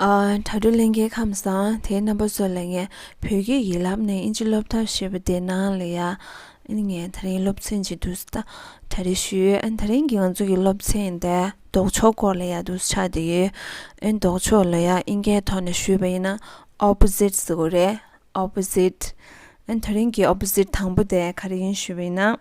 དྲ་གྲོགས་གླིང་གའི་ཁམས་བཟང་དེའི་རྣམ་པ་ཚོ་ལ་ངས་བོད་སྐད་ཡིག་ལབ་ནས་དབྱིན་ཇི་སློབ་ཐབས་བྱེད་པ་དེ་ནང་ལ་ཡ་ཨན་ངས་ད་རིང་སློབ་ཚན་གྱི་དུས་ད་རེ་ཞུས་ད་རིང་གི་ང་ཚོ་གི་སློབ་ཚན་དེ་ལྡོག་ཕྱོགས་སྐོར་ལ་ཡ་དུས་ཆགས་བསྡད་ཡོད་ཨན་ལྡོག་ཕྱོགས་ལ་ཡ་དབྱིན་སྐད་ཐོག་ནས་ཞུས་པ་ཡིན་ན Opposite ཟེར་གོ་རེད Opposite ཨན་ད་རིང་གི Opposite དང་པོ་དེ་ག་རེ་ཡིན་ཞུས་པ་ཡིན་ན་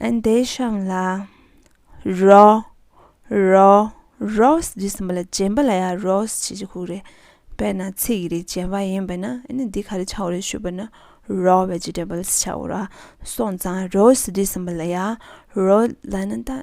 འདས་ཤིང་ལ། རོ། རོ། རོས་འདི་གསུམ་པོ་ལ་རྗེན་པ་ལ་ཡང་རོས་ཞེས་ཀྱི་ཁུགས་རེད། དཔེར་ན་ཚིག་གི་རིགས་རྗེན་པ་ཡིན་པས་ན་འདི་ག་རེ་བྱའོ་རེ་ཞུས་པ་ན་རོ་བས་རྗེས་འབྲེལ་པ་ལ་བྱའོ། སོང་ཙང་རོས་འདི་གསུམ་པོ་ལ་ཡང་རོ་ལ་ན་ད།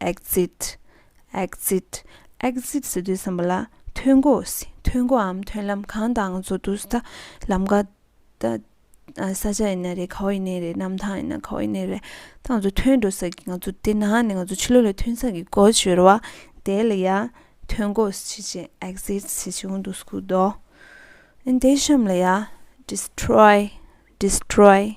Exit Exit Exit ཟེར་དུས་བསམ་པ་ལ་ཐོན་སྒོ་ཐོན་སྒོའམ་ཐོན་ལམ་གང་དང་བཟོ་དུས་ད་ལམ་ཀ་ད་ས་ཆ་ཡིན་ན་རེད་ག་བ་ཡིན་ན་རེད་གནམ་ཐང་ཡིན་ན་ག་བ་ཡིན་ན་རེད་ད་ང་ཚོ་ཐོན་འགྲོ་ས་ཀྱི་ང་ཚོ་དེ་ན་ནས་ང་ཚོ་ཕྱི་ལོག་ལ་ཐོན་ས་ཀྱི་སྒོ་ཕྱེར་བ་དེ་ལ་ཡ་ཐོན་སྒོ་ཕྱི་ཆེ Exit ཕྱི་ཆེ་འོང་དུ་སྐུར་དོ་དེ་གཤམ་ལ་ཡ Destroy Destroy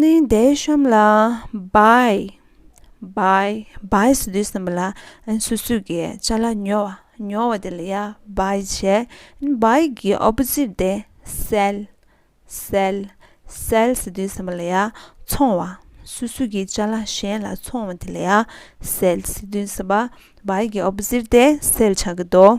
ནི་འདས་གཤོམ་ལ་བའི་བའི་བའི་སུ་དུས་གསུམ་པོ་ལ་སུ་སུ་གི་ཅ་ལ་ཉོ་བ་ཉོ་བ་དེ་ལ་ཡ་བའི་བྱས་ནི་བའི་གི opposite དེ་སེལ་སེལ་སེལ་སུ་དུས་གསུམ་པོ་ལ་ཡ་འཚོང་བ་སུ་སུ་གི་ཅ་ལ་གཞན་ལ་འཚོང་བ་དེ་ལ་ཡ་སེལ་སུ་དུས་གསུམ་པ་བའི་གི opposite དེ་སེལ་བྱ་གི་དོ།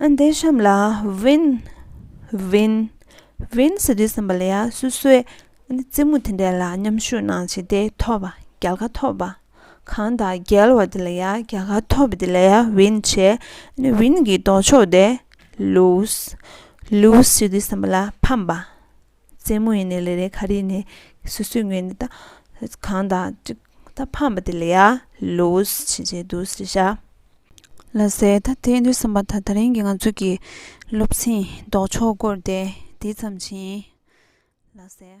འདི་གཤམ་ལ་བིན། Vin། ཟེར་དུས་སེམས་པ་ལ་ཡང་སོ་སོའི་རྩེད་མོ་དེ་འདྲ་ལ་མཉམ་ཞུགས་གནང་བྱས་ཏེ་ཐོབ་པ་རྒྱལ་ཁ་ཐོབ་པ་གང་དང་རྒྱལ་བ་དེ་ལ་ཡང་རྒྱལ་ཁ་ཐོབ་པ་དེ་ལ་ཡང་བིན་བྱས། བིན་གྱི་ལྡོག་ཕྱོགས་ཏེ་ལུས། ཟེར་དུས་སེམས་པ་ལ་ཕམ་པ། རྩེད་མོ་ཡིན་ནི་ལེ་རེ་ཁ་རིས་ནི་སུས་སུས་ངོས་ནི་དང། གང་དང་ཅིག་ད་ཕམ་པ་དེ་ལ་ཡ། ལུས་ཕྱིན་ཆད་དུ་ཟེར་བྱ། ལ་ཟེར་ད་དེ་འདོད་བསམ་པ་ད་ད་རིང་གི་ང་ཚོ་གི་སློབ་ཚན་ལྡོག་ཕྱོགས་སྐོར་དེ་དེ་ཙམ་བྱིན་ཡིན། ལ་ཟེར།